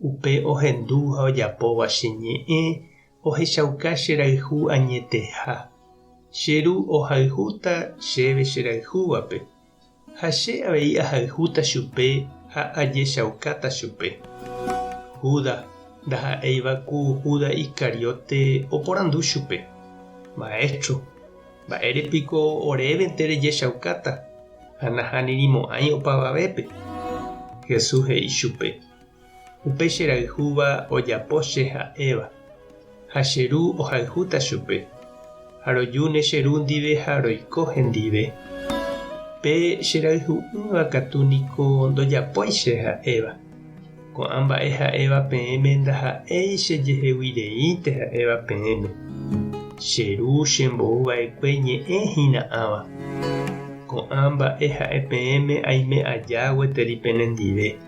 Upe ohendu ha ojapóva che ñe'ẽ ohechauka che rayhu añeteha. Che ru ohayhúta chéve che rayhúvape, ha che avei ahayhúta chupe ha ajechaukáta chupe. Judas, ndaha'éiva ku Judas Iscariote, oporandu chupe, Maestro, mba'ére piko orévente rejechaukáta ha nahanirimo'ãi opavavépe? Jesús he'i chupe. Upe che rayhúva ojapo che ha'éva, ha che ru ohayhúta chupe, ha rojúne che ru ndive ha roiko hendive. Pe che rayhu'ỹva katu niko ndojapói che ha'éva. Ko'ã mba'e ha'éva peẽme ndaha'éi che jeheguireínte ha'éva peẽme. Che ru chembou vaekue ñe'ẽ hĩna'ãva. Ko'ã mba'e ha'e peẽme aime aja gueteri penendive.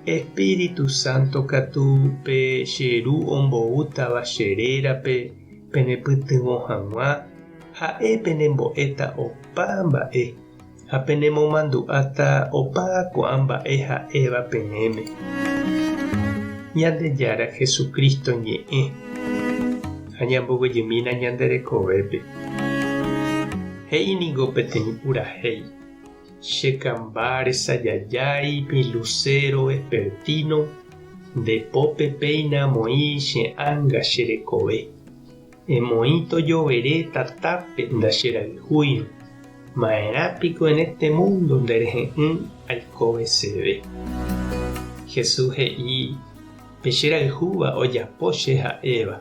Espíritu Santo katu pe che Ru omboútava che rérape penepytyvõ hag̃ua, ha'e penembo'éta opa mba'e, ha penemomandu'áta opa ko'ã mba'e ha'éva peẽme. Ñandejára Jesucristo ñe'ẽ ha ñambovyjymína ñande rekovépe. He'i ningo peteĩ purahéi. Che kamba resajajái pĩ lusero vespertino, nde pópe péina amoĩ che ánga che rekove. Emoĩ tojovere tatápe ndacherayhúirõ, ma'erã piko en este mundo nde rehe'ỹ aikoveseve. Jesús he'i, Pe che rayhúva ojapo che ha'éva,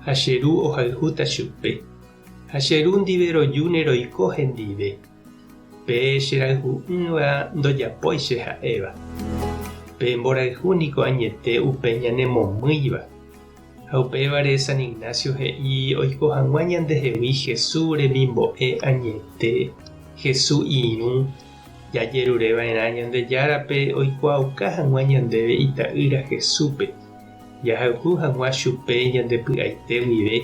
ha che ru ohayhúta chupe. Ha che ru ndive rojúne roiko hendive, pe che rayhu'ỹva ndojapói che ha'éva. Pe mborayhu niko añete upe ñanemomýiva. Ha upévare San Ignacio he'i oiko hag̃ua ñandehegui Jesús remimbo'e añete, Jesús irũ, jajerureva'erã Ñandejárape oikuaauka hag̃ua ñandéve Ita'ýra Jesúspe, jahayhu hag̃ua chupe ñande py'aite guive.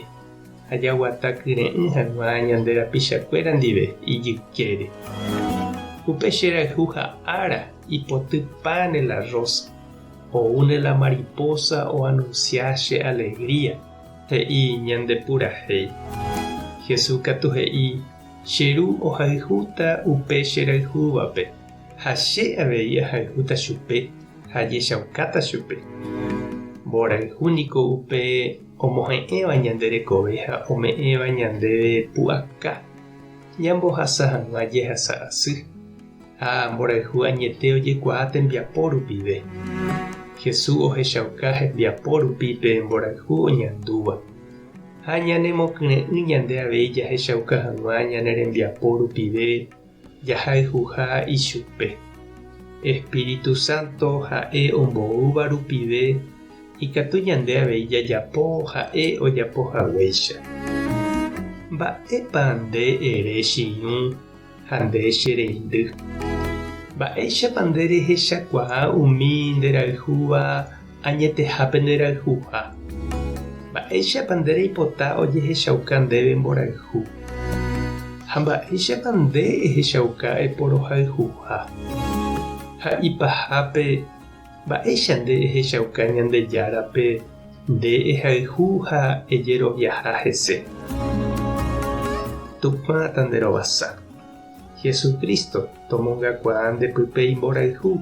Ha jaguata kyre'ỹ hag̃ua ñande rapichakuéra ndive ijykére. Upe che rayhu ha ára ipoty páne la rósa, oúne la maripósa oanunsia che alegría, he'i ñande purahéi. Jesús katu he'i, Che Ru ohayhúta upe che rayhúvape, ha che avei ahayhúta chupe ha ajechaukáta chupe. Mborayhu niko upe omohe'ẽva ñande rekove ha ome'ẽva ñandéve pu'aka ñambohasa hag̃ua jehasa asy ha mborayhu añete ojekuaa tembiapo rupive. Jesús ohechauka hembiapo rupi pe mborayhu oñandúva, ha ñanemokyre'ỹ ñande avei jahechauka hag̃ua ñane rembiapo rupive Jahayhuha ichupe. Espíritu Santo ha'e omboúva rupive ikatu ñande avei jajapo ha'e ojapo haguéicha. Mba'épa nde ere chiñu ha nde che reindy? Mba'éichapa nde rehechakuaa umi nderayhúva Añeteha penderayhuha. Mba'éichapa nde reipota ojehechauka ndéve mborayhu? Ha mba'éichapa nde ehechauka eporohayhuha? Ha ipahápe, mba'éicha nde ehechauka Ñandejárape nde ehayhu ha ejeroviaha hese? Tupã tanderovasa. Jesucristo tomongakuaa nde pype imborayhu.